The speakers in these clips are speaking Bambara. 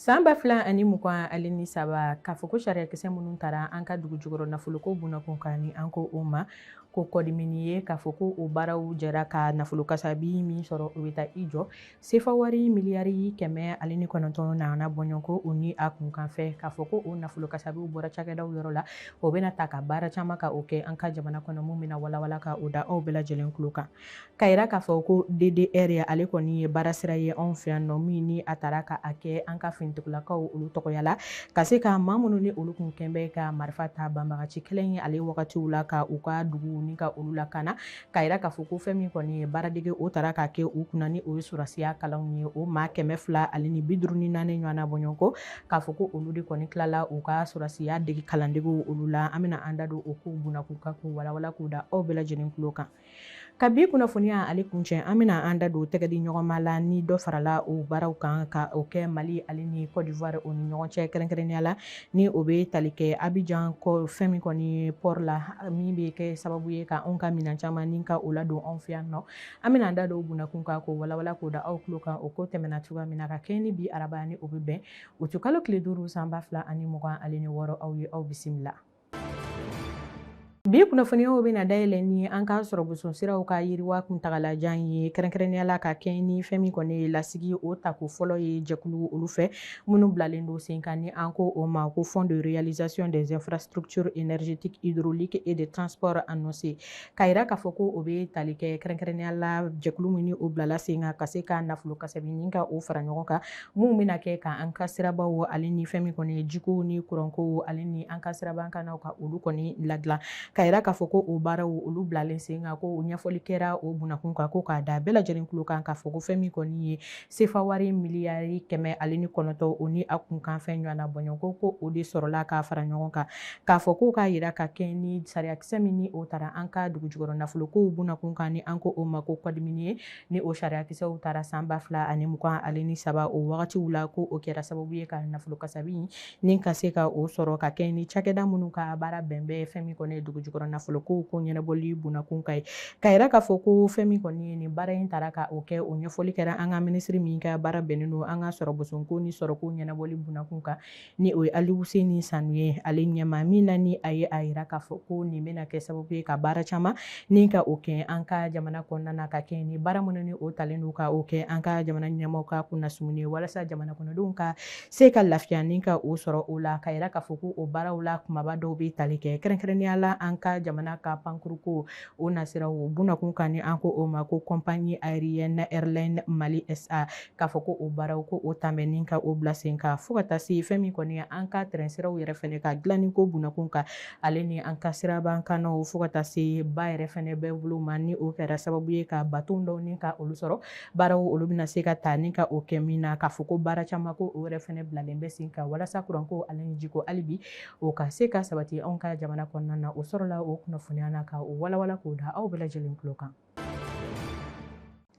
San ba fila ani mugan ale ni saba k'a fɔ ko sariyakisɛ minnu taara an ka dugu jukɔrɔ nafoloko bunakun kan ni an ko o ma ko kɔdimini ye k'a fɔ ko o baaraw jɛra ka nafolo kasabi min sɔrɔ o bɛ taa i jɔ Sefa wari miliyari kɛmɛ ale ni kɔnɔntɔn na bɔɲɔgɔnko o ni a kunkanfɛ k'a fɔ ko o nafolo kasabi bɔra cakɛda yɔrɔ la o bɛna ta ka baara caman ka o kɛ an ka jamana kɔnɔ min bɛna walawala ka o da aw bɛɛ lajɛlen tulo kan k'a yira k'a fɔ ko DDR ye ale kɔni ye baara sira ye anw fɛ yan nɔ min ni a taara ka a kɛ an ka finitigilakaw olu tɔgɔya la ka se ka maa minnu ni olu kun kɛlen bɛ ka marifa ta banbagaci kɛlɛ ye ale wagatiw la ka u ka dugu ni ka olu lakana k'a yira k'a fɔ ko fɛn min kɔni ye baaradege o taara k'a kɛ u kunna ni o ye sɔrɔsiya kalanw ye o maa kɛmɛ fila ale ni bi duuru ni naani ɲɔgɔnna bɔɲɔgɔnko k'a fɔ ko olu de kɔni tilala u ka sɔrɔsiya dege kalandegew olu la an bɛna an da don o kow bunakun kan k'u walawala k'u da aw bɛɛ lajɛlen tulo kan ka bi kunnafoniya ale kuncɛ an bɛna an da don tɛgɛdi ɲɔgɔnma la ni dɔ farala o baaraw kan ka o kɛ Mali ale ni Côte d'Ivoire o ni ɲɔgɔn cɛ kɛrɛnkɛrɛnnenya la ni o bɛ tali kɛ Abidjan ko fɛn min kɔni ye port la min bɛ kɛ sababu ye ka anw ka minɛn caman ni ka o ladon anw fɛ yan nɔ an bɛna an da don o bunakun kan k'o walawala k'o da aw tulo kan o ko tɛmɛna cogoya min na ka kɛɲɛ ni bi araba ni o bɛ bɛn uti kalo tile duuru san ba fila ani mugan ale ni wɔɔrɔ aw ye aw bisimila bi kunnafoniyaw bɛna dayɛlɛ ni an ka sɔrɔ boson siraw ka yiriwa kuntagalajan ye kɛrɛnkɛrɛnnenya la ka kɛɲɛ ni fɛn min kɔni ye lasigi o tako fɔlɔ ye jɛkulu olu fɛ minnu bilalen don sen kan ni an ko o ma ko fonds de réalisation des infrastructures énergétiques hydrauliques et de transport annoncé k'a yira k'a fɔ ko o bɛ tali kɛ kɛrɛnkɛrɛnnenya la jɛkulu min ni o bilala sen kan ka se ka nafolo kasabi ni ka o fara ɲɔgɔn kan minnu bɛna kɛ ka an ka siraba wo ale ni fɛn min kɔni ye jiko ni kuranko wo ale ni an ka sirabakannaw ka olu kɔni ladilan k'a yira k'a fɔ ko o baaraw olu bilalen sen kan ko o ɲɛfɔli kɛra o bunakun kan ko k'a da bɛɛ lajɛlen tulo kan k'a fɔ ko fɛn min kɔni ye sefa wari miliyari kɛmɛ ale ni kɔnɔntɔn o ni a kunkanfɛn ɲɔgɔnna bɔɲɔgɔnko ko o de sɔrɔla k'a fara ɲɔgɔn kan k'a fɔ ko k'a yira ka kɛ ni sariyakisɛ min ni o taara an ka dugujukɔrɔ nafolokow bunakun kan ni an ko o ma ko kɔdimini ye ni o sariyakisɛw taara san ba fila ani mugan ale ni saba o wagatiw la ko o kɛra sababu ye ka nafolo kasabi ni ka se ka o sɔrɔ ka kɛ ni cakɛda minnu ka baara bɛnnen bɛ fɛn min kɔni ye dugu jukɔrɔ nafolokow ko ɲɛnabɔli bunakun kan ye k'a yira k'a fɔ ko fɛn min kɔni ye nin baara in taara ka o kɛ o ɲɛfɔli kɛra an ka minisiri min ka baara bɛnnen don an ka sɔrɔ bosonko ni sɔrɔko ɲɛnabɔli bunakun kan ni o ye aliuseni sanu ye ale ɲɛma min na ni a ye a yira k'a fɔ ko nin bɛna kɛ sababu ye ka baara caman ni ka o kɛ an ka jamana kɔnɔna na ka kɛ ni baara minnu ni o talen don ka o kɛ an ka jamana ɲɛma ka kunnasum ye walasa jamana kɔnɔdenw ka se ka lafiya ni ka o sɔrɔ o la ka yira k'a fɔ ko o baaraw la kumaba dɔw bɛ tali kɛ kɛrɛnkɛrɛnnenya la an ka jamana ka pankuruko o nasira o bunakun kan ni an ko o ma ko compagnie aérienne airline mali sa k'a fɔ ko o baaraw ko o dabɛnni ka o bila sen kan fo ka taa se fɛn min kɔni an ka trɛn siraw yɛrɛ fɛnɛ ka dilanni ko bunakun kan ale ni an ka siraba kannaw fo ka taa se ba yɛrɛ fɛnɛ bɛɛ bolo ma ni o kɛra sababu ye ka baton dɔw ni ka olu sɔrɔ baaraw olu bɛna se ka taa ni ka o kɛ min na k'a fɔ ko baara caman ko o yɛrɛ fɛnɛ bilalen bɛ sen kan walasa kuranko ale ni jiko hali bi o ka se ka sabati anw ka jamana kɔnɔna na o sɔrɔla o kunnafoniya na ka o walawala k'o da aw bɛɛ lajɛlen tulo kan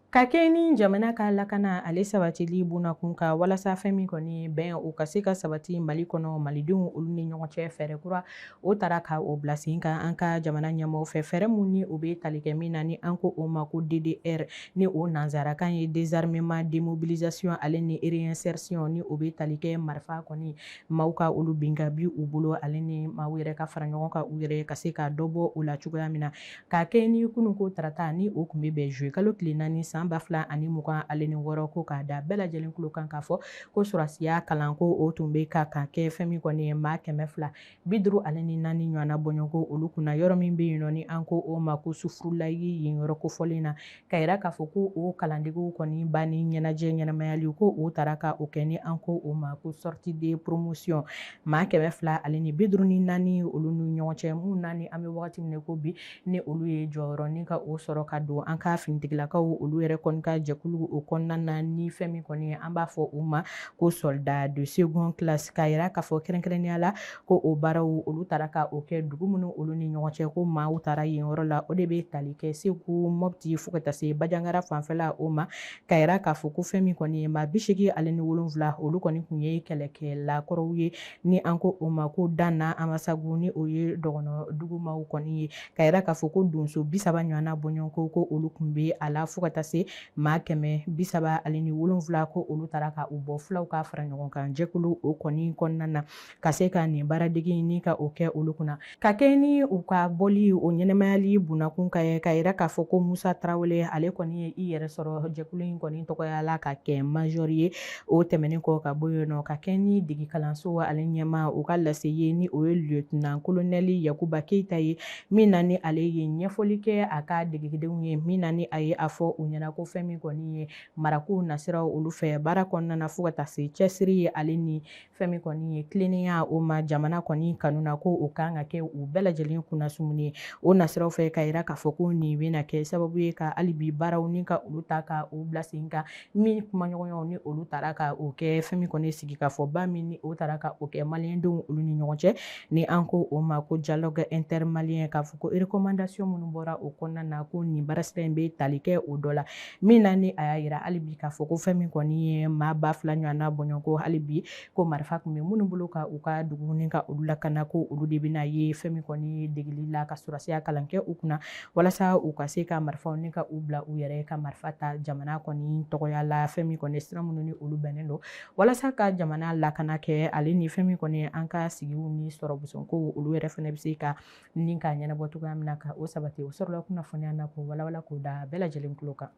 ka kɛ ni jamana ka lakana ale sabatili bunakun kan walasa fɛn min kɔni bɛn o ka se ka sabati mali kɔnɔ malidenw olu ni ɲɔgɔn cɛ fɛɛrɛ kura o tara ka o bila sen kan an ka jamana ɲɛmɔgɔ fɛ fɛɛrɛ minnu ni o bɛ tali kɛ min na ni an ko o ma ko ddr ni o nansarakan ye désarmement démobilisation ale ni réinsertion ni o bɛ tali kɛ marifa kɔni maaw ka olu bin ka bi u bolo ale ni maaw yɛrɛ ka fara ɲɔgɔn kan u yɛrɛ ka se ka dɔ bɔ o la cogoya min na ka kɛ ni kunun ko tarata ni o kun bɛ bɛn zuye kalo tile naani san ba fila ani mugan ale ni wɔɔrɔ ko k'a da bɛɛ lajɛlen tulo kan k'a fɔ ko sɔrasiya kalan ko o tun bɛ ka ka kɛ fɛn min kɔni ye maa kɛmɛ fila bi duuru ale ni naani ɲɔgɔnna bɔɲɔgɔnko olu kunna yɔrɔ min bɛ yen nɔ ni an ko o ma ko sufurulayi yen yɔrɔ kofɔlen na ka yira k'a fɔ ko o kalandegew kɔni banni ɲɛnajɛ ɲɛnamayali ko o taara ka o kɛ ni an ko o ma ko sortie de promotion maa kɛmɛ fila ale ni bi duuru ni naani olu ni ɲɔgɔn cɛ min na ni an bɛ wagati min na ko bi ni olu ye jɔyɔrɔ ni ka o sɔrɔ ka don an ka finitigilakaw olu yɛrɛ kɔni ka jɛkulu o kɔnɔna na ni fɛn min kɔni ye an b'a fɔ u ma ko soldat de seconde classe ka yira k'a fɔ kɛrɛnkɛrɛnnenya la ko o baaraw olu taara ka o kɛ dugu minnu olu ni ɲɔgɔn cɛ ko maaw taara yen yɔrɔ la o de bɛ tali kɛ segu mɔpti fo ka taa se bajangara fanfɛla o ma ka yira k'a fɔ ko fɛn min kɔni ye maa bisegi ale ni wolonwula olu kɔni tun ye kɛlɛkɛlakɔrɔw ye ni an ko o ma ko dan na amasagu ni o ye dɔgɔnɔ dugumaw kɔni ye ka yira k'a fɔ ko donso bisaba ɲɔgɔnna bɔɲɔgɔnko ko olu tun bɛ a la fo ka taa se maa kɛmɛ bisaba ale ni wolonwula ko olu tara ka u bɔ fulaw ka fara ɲɔgɔn kan jɛkulu o kɔni kɔnɔna na ka se ka nin baaradege ni ka o kɛ olu kunna ka kɛ ni u ka bɔli o ɲɛnamayali bunakun kan ye ka yira k'a fɔ ko musa tarawele ale kɔni ye i yɛrɛ sɔrɔ jɛkulu in kɔni tɔgɔya la ka kɛ majɔri ye o tɛmɛnen kɔ ka bɔ yen nɔ ka kɛ ni degi kalanso ale ɲɛma u ka lase ye ni o ye lieutenant kolonɛli yakuba keyita ye min na ni ale ye ɲɛfɔli kɛ a ka degedenw ye min na ni a ye a fɔ u ɲɛna ko fɛn min kɔni ye marakow nasiraw olu fɛ baara kɔnɔna na fo ka taa se cɛsiri ye ale ni fɛn min kɔni ye tilennenya o ma jamana kɔni kanu na ko o kan ka kɛ u bɛɛ lajɛlen kunnasumuni ye o nasiraw fɛ ka yira k'a fɔ ko nin bɛna kɛ sababu ye ka hali bi baaraw ni ka olu ta ka u bila sen kan min kumaɲɔgɔnyaw ni olu taara ka o kɛ fɛn min kɔni sigi ka fɔ ba min ni o taara ka o kɛ maliyɛndenw olu ni ɲɔgɔn cɛ ni an ko o ma ko dialogue intermalien k'a fɔ ko recommandation minnu bɔra o kɔnɔna na ko nin baarasira in bɛ tali kɛ o dɔ la min na ni a y'a yira hali bi k'a fɔ ko fɛn min kɔni ye maa ba fila ɲɔgɔn n'a bɔɲɔgɔnko hali bi ko marifa tun bɛ minnu bolo ka u ka dugu ni ka olu lakana ko olu de bɛna ye fɛn min kɔni ye degeli la ka sɔrɔsiya kalan kɛ u kunna walasa u ka se ka marifaw ni ka u bila u yɛrɛ ka marifa ta jamana kɔni tɔgɔya la fɛn min kɔni sira minnu ni olu bɛnnen don walasa ka jamana lakana kɛ ale ni fɛn min kɔni an ka sigiw ni sɔrɔ busɔn ko olu yɛrɛ fana bɛ se ka ni k'a ɲɛnabɔ cogoya min na ka o sabati o sɔrɔla kunnafoniya na k'o walawala k'o da bɛɛ lajɛlen tulo kan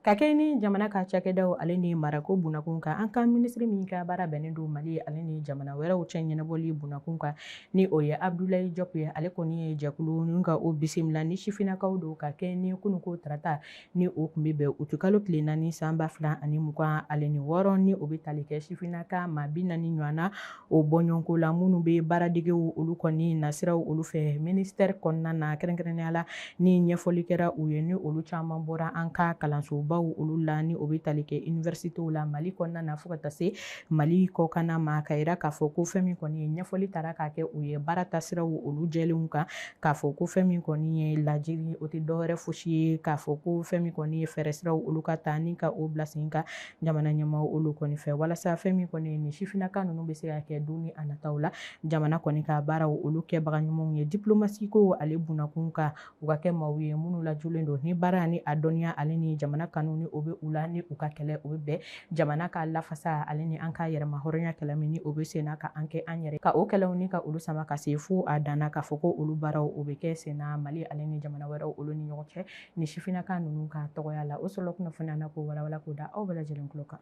ka kɛ ni jamana ka cakɛdaw ale ni marako bunakun kan an ka minisiri min ka baara bɛnnen don mali ale ni jamana wɛrɛw cɛ ɲɛnabɔli bunakun kan ni o ye abdulayi jɔp ye ale kɔni ye jɛkulu ni ka o bisimila ni sifinnakaw don ka kɛ ni kununko tarata ni o tun bɛ bɛn utikalo tile naani san ba fila ani mugan ale ni wɔɔrɔ ni o bɛ tali kɛ sifinnaka maa bi naani ɲɔgɔn na o bɔɲɔgɔnko la minnu bɛ baaradegew olu kɔni nasiraw olu fɛ minisitɛri kɔnɔna na kɛrɛnkɛrɛnya la ni ɲɛfɔli kɛra u ye ni olu caman bɔra an ka kalansobaw olu la ni o bɛ tali kɛ iniwɛrisitew la mali kɔnɔna na fo ka taa se mali kɔkanna ma ka yira k'a fɔ ko fɛn min kɔni ye ɲɛfɔli taara ka kɛ u ye baara taasiraw olu jɛlenw kan k'a fɔ ko fɛn min kɔni ye lajiri o tɛ dɔwɛrɛ fosi ye k'a fɔ ko fɛn min kɔni ye fɛɛrɛ siraw olu ka ta ni ka o bila sen kan jamana ɲɛmaaw olu kɔni fɛ walasa fɛn min kɔni ye nin sifinnaka ninnu bɛ se ka kɛ don ni a nataw la jamana kɔni ka baaraw olu kɛbaga ɲumanw ye diplomasiko ale bunakun kan u ka kɛ maaw ye minnu lajulen don ni baara ni a dɔnniya ale ni jamana kanu ni o bɛ u la ni u ka kɛlɛ o bɛ bɛn jamana ka lafasa ale ni an ka yɛrɛma hɔrɔnya kɛlɛ min ni o bɛ senna ka an kɛ an yɛrɛ ka o kɛlɛw ni ka olu sama ka se fo a danna k'a fɔ ko olu baaraw o bɛ kɛ senna mali ale ni jamana wɛrɛw olu ni ɲɔgɔn cɛ ni sifinnaka ninnu ka tɔgɔya la o sɔrɔla kunnafoniya na k'o walawala k'o da aw bɛɛ lajɛlen tulo kan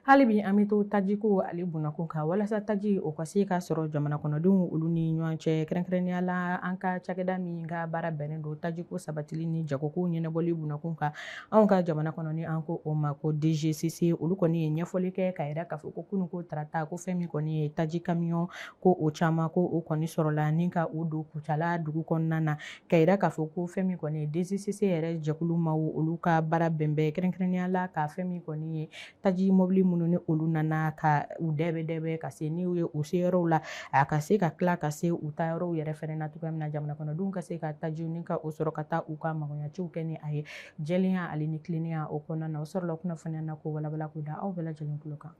hali bi an bɛ to tajiko ale bunakun kan walasa taji o ka se ka sɔrɔ jamana kɔnɔdenw olu ni ɲɔgɔn cɛ kɛrɛnkɛrɛnnenya la an ka cakɛda min ka baara bɛnnen don tajiko sabatili ni jagoko ɲɛnabɔli bunakun kan anw ka jamana kɔnɔ ni an ko o ma ko dgcc olu kɔni ye ɲɛfɔli kɛ ka yira k'a fɔ ko kunu ko tarata ko fɛn min kɔni ye taji kamiyɔn ko o caman ko o kɔni sɔrɔla ni ka o don kucala dugu kɔnɔna na ka yira k'a fɔ ko fɛn min kɔni ye dgcc yɛrɛ jɛkulu maaw olu ka baara bɛnbɛn kɛrɛnkɛrɛnnenya la ka fɛn min kɔni ye taji mɔbili minnu ni olu nana ka u dɛbɛ dɛbɛ ka se n'u ye u se yɔrɔw la a ka se ka tila ka se u ta yɔrɔw yɛrɛ fɛnɛ na cogoya min na jamana kɔnɔdenw ka se ka tajiw ni ka o sɔrɔ ka taa u ka magoɲaciw kɛ ni a ye jɛlenya ale ni tilennenya o kɔnɔna na o sɔrɔla kunnafoniya na k'o walawala k'o da aw bɛɛ lajɛlen tulo kan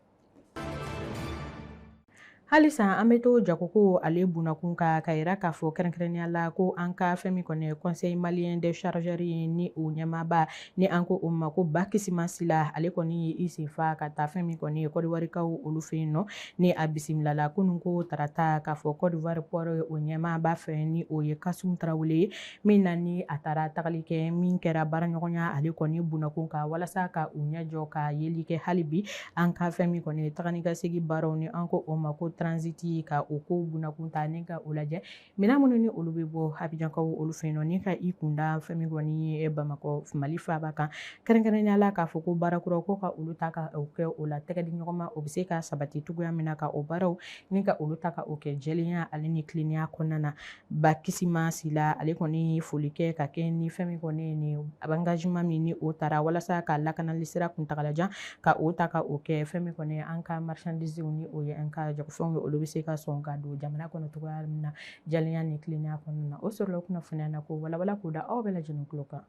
halisa an bɛ to jagoko ale bunakun kan ka yira k'a fɔ kɛrɛnkɛrɛnnenya la ko an ka fɛn min kɔni ye conseil malien des chargeurs ye ni o ɲɛmaaba ni an ko o ma ko bakisima sila ale kɔni ye i sen fa ka taa fɛn min kɔni ye kɔdiwarikaw olu fɛ yen nɔ ni a bisimilala kunun ko tarata k'a fɔ kɔdiwari port o ɲɛmaaba fɛ ni o ye kasum tarawele ye min na ni a taara tagali kɛ min kɛra baaraɲɔgɔnya ale kɔni bunakun kan walasa ka u ɲɛjɔ ka yeli kɛ hali bi an ka fɛn min kɔni ye taga ni ka segin baaraw ni an ko o ma ko transiti ka o ko bunakun ta ni ka o lajɛ minɛn minnu ni olu bɛ bɔ abijankaw olu fɛ yen nɔ ni ka i kunda fɛn min kɔni ye bamakɔ mali faaba kan kɛrɛnkɛrɛnnenya la k'a fɔ ko baarakuraw ko ka olu ta ka o kɛ o la tɛgɛ di ɲɔgɔn ma o bɛ se ka sabati cogoya min na ka o baaraw ni ka olu ta ka o kɛ jɛlenya ale ni tilennenya kɔnɔna na bakisima sila ale kɔni ye foli kɛ ka kɛ ni fɛn min kɔni ye nin engagement min ni o taara walasa ka lakanali sira kuntagalajan ka o ta ka o kɛ fɛn min kɔni ye an ka marchandisew ni o ye an ka jagofɛnw ye olu bɛ se ka sɔn ka don jamana kɔnɔ cogoya min na jɛlenya ni tilennenya kɔnɔna na o sɔrɔla kunnafoniya na k'o walawala k'o da aw bɛɛ lajɛlen tulo kan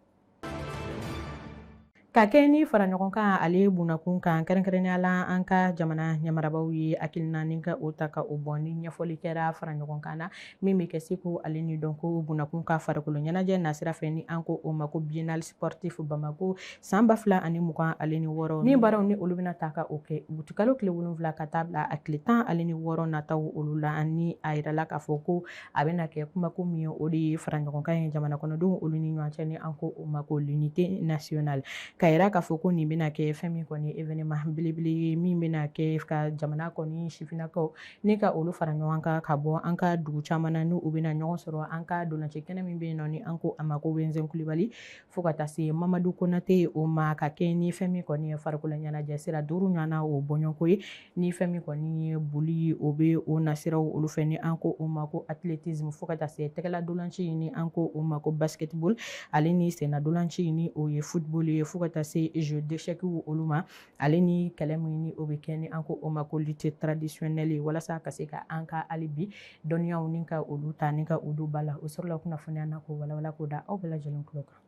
ka kɛ ni fara ɲɔgɔn kan ale bunakun kan kɛrɛnkɛrɛnnenya la an ka jamana ɲɛmarabaw ye hakilina ni ka o ta ka o bɔ ni ɲɛfɔli kɛra fara ɲɔgɔn kan na min bɛ kɛ seko ale ni dɔnko bunakun kan farikolo ɲɛnajɛ nasira fɛ ni an ko o ma ko biennale sportif bamako san ba fila ani mugan ale ni wɔɔrɔ ni baaraw ni olu bɛna ta ka o kɛ utikalo tile wolonwula ka taa bila a tile tan ale ni wɔɔrɔ nataw olu la ani a yirala k'a fɔ ko a bɛna kɛ kumako min ye o de ye faraɲɔgɔnkan ye jamana kɔnɔdenw olu ni ɲɔgɔn cɛ ni an ko o ma ko l'unité nationale ka yira k'a fɔ ko nin bɛna kɛ fɛn min kɔni ye événement belebele ye min bɛna kɛ ka jamana kɔni sifinnakaw ni ka olu fara ɲɔgɔn kan ka bɔ an ka dugu caman na ni u bɛna ɲɔgɔn sɔrɔ an ka dolanci kɛnɛ min bɛ yen nɔ ni an ko a ma ko wɛzɛn kulibali fo ka taa se mamadu konate o ma ka kɛ ni fɛn min kɔni ye farikolo ɲɛnajɛ sira duuru ɲɔgɔnna o bɔɲɔgɔnko ye ni fɛn min kɔni ye boli ye o bɛ o nasiraw olu fɛ ni an ko o ma ko athlétisme fo ka taa se tɛgɛladolanci ye ni an ko o ma ko basketball ale ni sennadolanci ye ni o ye football ye fo ka taa se jeux d'échecs olu ma ale ni kɛlɛ min ni o bɛ kɛ ni an ko o ma ko lutte traditionnelle walasa ka se ka an ka hali bi dɔnniyaw ni ka olu ta ni ka u don ba la o sɔrɔla kunnafoniya na k'o walawala k'o da aw bɛɛ lajɛlen tulo kan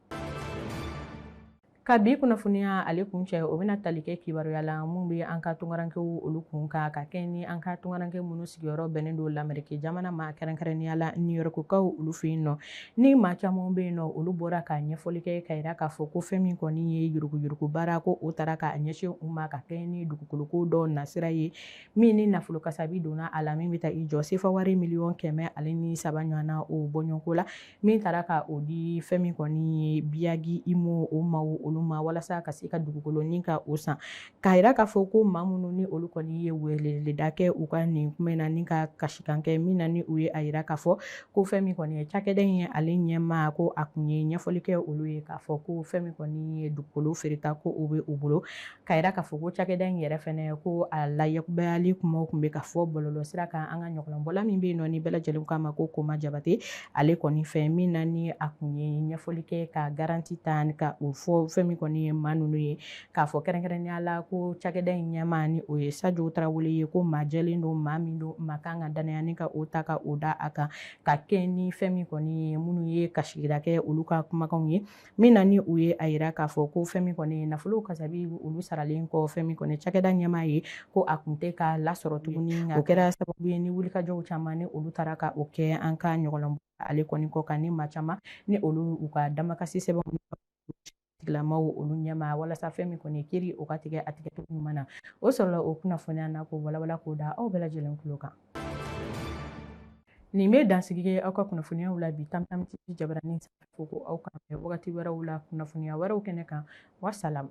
ka bi kunnafoniya ale kun cɛ o bɛna tali kɛ kibaruya la min bɛ an ka tunkarankew olu kun kan ka kɛ ni an ka tunkaranke minnu sigiyɔrɔ bɛnnen don lameriki jamana ma kɛrɛnkɛrɛnnenya la niyɔrɔkukaw olu fɛ yen nɔ Ni maa caman bɛ yen nɔ olu bɔra ka ɲɛfɔli kɛ k'a yira k'a fɔ ko fɛn min kɔni ye yuruguyurugu baara ko o taara ka ɲɛsin u ma ka kɛɲɛ ni dugukoloko dɔ nasira ye min ni nafolo kasabi donna a la min bɛ taa i jɔ sefa wari miliyɔn kɛmɛ ale ni saba ɲɔgɔnna o bɔɲɔgɔnko la min taara ka o di fɛn min kɔni ye biyagi Imo o maaw olu ma walasa ka se ka dugukolo ɲini ka o san k'a yira k'a fɔ ko maa minnu ni olu kɔni ye weleda kɛ u ka nin kuma na ni ka kasikan kɛ min na ni u ye a yira k'a fɔ ko fɛn min kɔni ye cakɛda in ye ale ɲɛmaa ko a kun ye ɲɛfɔli kɛ olu ye k'a fɔ ko fɛn min kɔni ye dugukolo feereta ko o bɛ u bolo k'a yira k'a fɔ ko cakɛda in yɛrɛ fana ko a layɛkubayali kumaw kun bɛ ka fɔ bɔlɔlɔ sira kan an ka ɲɔgɔlɔnbɔla min bɛ yen nɔ ni bɛɛ lajɛlen k'a ma ko Koma Jabate ale kɔni fɛ min na ni a kun ye ɲɛfɔli kɛ ka garanti ta ka o fɔ fɛn min kɔni ye maa ninnu ye k'a fɔ kɛrɛnkɛrɛnnenya la ko cakɛda in ɲɛmaa ni o ye Sajo Tarawele ye ko maa jɛlen don maa min don maa kan ka dannaya ni ka o ta ka o da a kan ka kɛɲɛ ni fɛn min kɔni ye minnu ye kasigira kɛ olu ka kumakanw ye min na ni u ye a yira k'a fɔ ko fɛn min kɔni ye nafolo kasabi olu saralen kɔ fɛn min kɔni cakɛda ɲɛmaa ye ko a kun tɛ ka lasɔrɔ tuguni o kɛra sababu ye ni wulikajɔw caman ni olu taara ka o kɛ an ka ɲɔgɔlɔn ale kɔni kɔ kan ni maa caman ni olu u ka damakasi sɛbɛnw tigilamaw olu ɲɛma walasa fɛn min kɔni kiri o ka tigɛ a tigɛcogo ɲuman na o sɔrɔla o kunnafoniya na k'o walawala k'o da aw bɛɛ lajɛlen tulo kan nin bɛ dansigi kɛ aw ka kunnafoniyaw la bi Tam Tam TV jabaranin sanfɛ fo ko aw k'an bɛn wagati wɛrɛw la kunnafoniya wɛrɛw kɛnɛ kan wasalamu